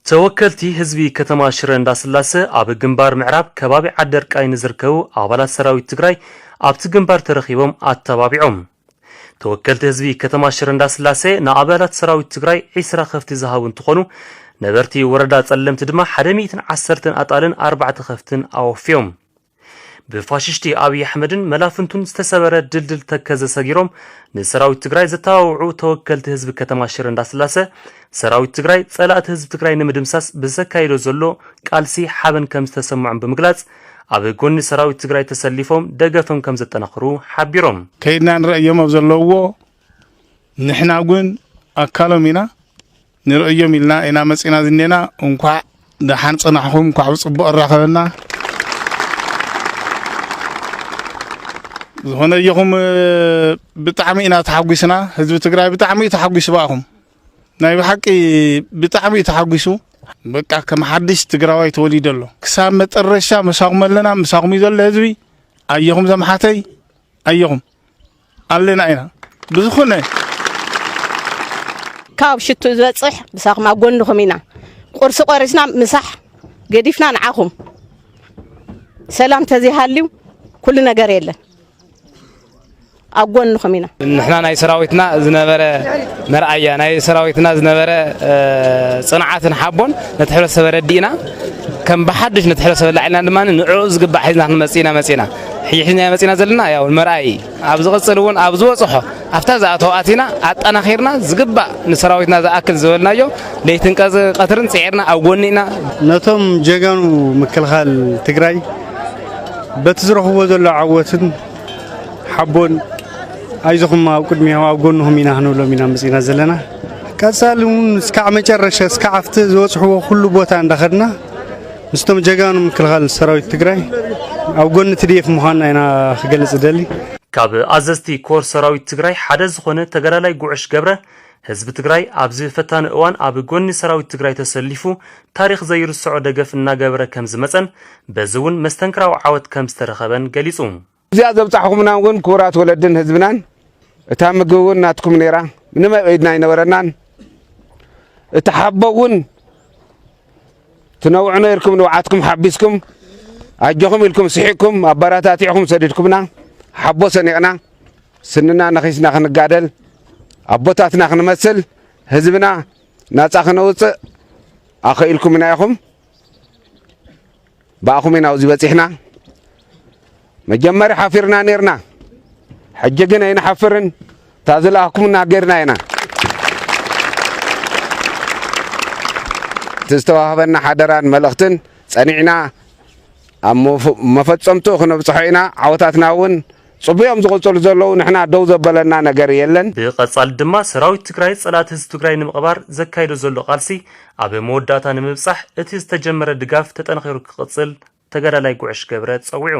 ተወከልቲ ህዝቢ ከተማ ሽረ እንዳስላሰ ኣብ ግንባር ምዕራብ ከባቢ ዓደርቃይ ንዝርከቡ ኣባላት ሰራዊት ትግራይ ኣብቲ ግንባር ተረኺቦም ኣተባቢዖም። ተወከልቲ ህዝቢ ከተማ ሽረ እንዳስላሴ ንኣባላት ሰራዊት ትግራይ ዒስራ ከፍቲ ዝሃቡ እንትኾኑ ነበርቲ ወረዳ ፀለምቲ ድማ ሓደ ሚእትን ዓሰርተን ኣጣልን ኣርባዕተ ከፍትን ኣወፍዮም። ብፋሽሽቲ ኣብይ ኣሕመድን መላፍንቱን ዝተሰበረ ድልድል ተከዘ ሰጊሮም ንሰራዊት ትግራይ ዘተባብዑ ተወከልቲ ህዝቢ ከተማ ሽረ እንዳስላሰ ሰራዊት ትግራይ ፀላእቲ ህዝቢ ትግራይ ንምድምሳስ ብዘካይዶ ዘሎ ቃልሲ ሓበን ከምዝተሰምዖም ብምግላፅ ኣብ ጎኒ ሰራዊት ትግራይ ተሰሊፎም ደገፍም ከም ዘጠናኽሩ ሓቢሮም። ከይድና ንርእዮም ኣብ ዘለውዎ ንሕና ውን ኣካሎም ኢና ንርእዮም ኢልና ኢና መጺና ዝኔና እንኳዕ ደሓን ጽናሕኹም እንኳዕ ብጽቡቕ ኣራኸበና ዝኾነ እየኹም ብጣዕሚ ኢና ተሓጒስና ህዝቢ ትግራይ ብጣዕሚ እዩ ተሓጒሱ ብኣኹም ናይ ብሓቂ ብጣዕሚ እዩ ተሓጒሱ በቃ ከም ሓድሽ ትግራዋይ ተወሊዶ ኣሎ ክሳብ መጠረሻ መሳኹም ኣለና ምሳኹም እዩ ዘሎ ህዝቢ ኣየኹም ዘምሓተይ ኣየኹም ኣለና ኢና ብዝኾነ ካብ ሽቱ ዝበፅሕ ምሳኹም ኣብ ጎንኹም ኢና ቁርሲ ቆሪስና ምሳሕ ገዲፍና ንዓኹም ሰላም ተዘይሃልዩ ኩሉ ነገር የለን ኣብ ጎንኹም ኢና። ንሕና ናይ ሰራዊትና ዝነበረ መርኣያ ናይ ሰራዊትና ዝነበረ ፅንዓትን ሓቦን ነቲ ሕብረተሰብ ኣረዲእና ከም ብሓዱሽ ነቲ ሕብረተሰብ ኣላዒልና ድማ ንዕኡ ዝግባእ ሒዝና ክንመፅእ ኢና መፂእና ሕጂ ሒዝና መፂእና ዘለና ያው መርኣይ ኣብ ዝቕፅል እውን ኣብ ዝበፅሖ ኣብታ ዝኣተው ኣቲና ኣጠናኺርና ዝግባእ ንሰራዊትና ዝኣክል ዝበልናዮ ለይትን ቀትርን ፅዒርና ኣብ ጎኒ ኢና ነቶም ጀጋኑ ምክልኻል ትግራይ በቲ ዝረኽብዎ ዘሎ ዓወትን ሓቦን ኣይዞኹም ኣብ ቅድሚኦም ኣብ ጎንኹም ኢና ክንብሎም ኢና መፂና ዘለና ቀፃሊ እውን እስካዕ መጨረሻ እስካዕ ኣብቲ ዝበፅሕዎ ኩሉ ቦታ እንዳኸድና ምስቶም ጀጋኑ ምክልኻል ሰራዊት ትግራይ ኣብ ጎኒ ትድኤፍ ምዃንና ኢና ክገልፅ እደሊ ካብ ኣዘዝቲ ኮር ሰራዊት ትግራይ ሓደ ዝኾነ ተጋዳላይ ጉዕሽ ገብረ ህዝቢ ትግራይ ኣብዚ ፈታኒ እዋን ኣብ ጎኒ ሰራዊት ትግራይ ተሰሊፉ ታሪኽ ዘይርሰዖ ደገፍ እናገበረ ከምዝመፀን በዚ እውን መስተንክራዊ ዓወት ከምዝተረኸበን ገሊፁ። ኣብዚኣ ዘብጻሕኹምና እውን ክቡራት ወለድን ህዝብናን እታ ምግቢ እውን ናትኩም ነይራ ምንም ኣብ ኢድና ኣይነበረናን እቲ ሓቦ እውን ትነውዑ ነይርኩም ንብዓትኩም ሓቢስኩም ኣጆኹም ኢልኩም ስሒቅኩም ኣበረታቲዕኹም ሰዲድኩምና ሓቦ ሰኒቕና ስንና ነኺስና ክንጋደል ኣቦታትና ክንመስል ህዝብና ናፃ ክነውፅእ ኣኸኢልኩምና ኢኹም ብኣኹም ኢና ኣብዚ በፂሕና መጀመርያ ሓፊርና ኔርና ሕጂ ግን ኣይንሓፍርን እታ ዝለኣኽኩምና ጌርና ኢና እቲ ዝተዋህበና ሓደራን መልእኽትን ጸኒዕና ኣብ መፈጸምትኡ ክነብጽሖ ኢና ዓወታትና እውን ጽቡዮም ዝቕጽሉ ዘለዉ ንሕና ደው ዘበለና ነገር የለን። ብቐጻሊ ድማ ሰራዊት ትግራይ ጸላእቲ ህዝቢ ትግራይ ንምቕባር ዘካይዶ ዘሎ ቃልሲ ኣብ መወዳእታ ንምብጻሕ እቲ ዝተጀመረ ድጋፍ ተጠናኺሩ ክቕጽል ተጋዳላይ ጉዕሽ ገብረ ጸዊዑ።